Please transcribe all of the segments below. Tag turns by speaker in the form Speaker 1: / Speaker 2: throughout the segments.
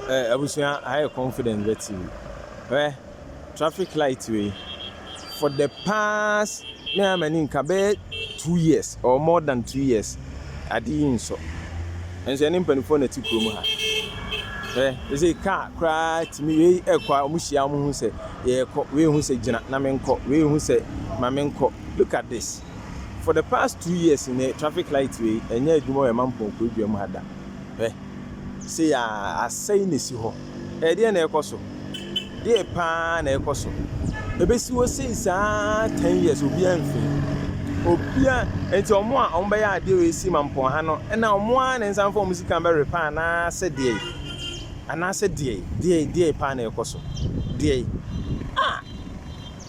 Speaker 1: Ɛ abusua ayɛ confident bɛte bi. Hwɛ traffic light wei for the past me a m'ani nka bɛyɛ two years or more than two years ade yi nsɔ. Nso ɛne mpanimfoɔ na ɛte kurom ha. Hwɛ ɛsɛ kaa koraa tumi wei ɛkɔ a wɔn hyia wɔn ho sɛ yɛrekɔ wei ho sɛ gyina na menkɔ wei ho sɛ ma menkɔ look at this. For the past two years nnɛ traffic light wei ɛnyɛ adwuma wɔ ɛma mpɔn kurodua mu ha da hwɛ sei a asɛe na esi hɔ ɛdeɛ na ɛkɔ so deɛ paa na ɛkɔ so ebesi hɔ sei saa ten years obiara mfin obia nti ɔmo a ɔmo bɛyɛ adeɛ wei si ma mpɔn ha no ɛna ɔmo a ne nsa mfa ɔmo sika bɛ repa anaasɛ deɛ anaasɛ deɛ deɛ deɛ paa na ɛkɔ so deɛ ah.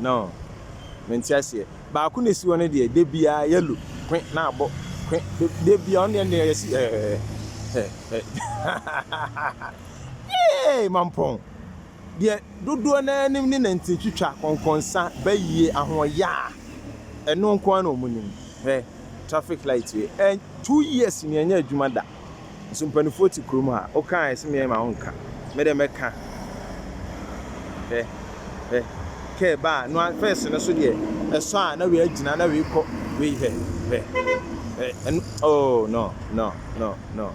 Speaker 1: No, mente aseɛ. Baako na esi hɔ no deɛ da biara yellow kwe na abɔ kwe da biara ɔno deɛ ɛnna yɛsi Yay mampɔn deɛ dodoɔ no ara nim ne nantin twitwa kɔnkɔnsa bayie ahoɔyaa ɛno nko ara na wɔn nim hwɛ traffic light wei two years ni ɛnyɛ adwuma da. So mpaninfoɔ te kurom ha. Wo ka a ɛse meɛ ma wo nka. Me deɛ mɛka. Hwɛ hwɛ car ba a noa first no so deɛ ɛsɔ a na wei agyina na wei kɔ wei hwɛ hwɛ hwɛ ɛno oh no no no no.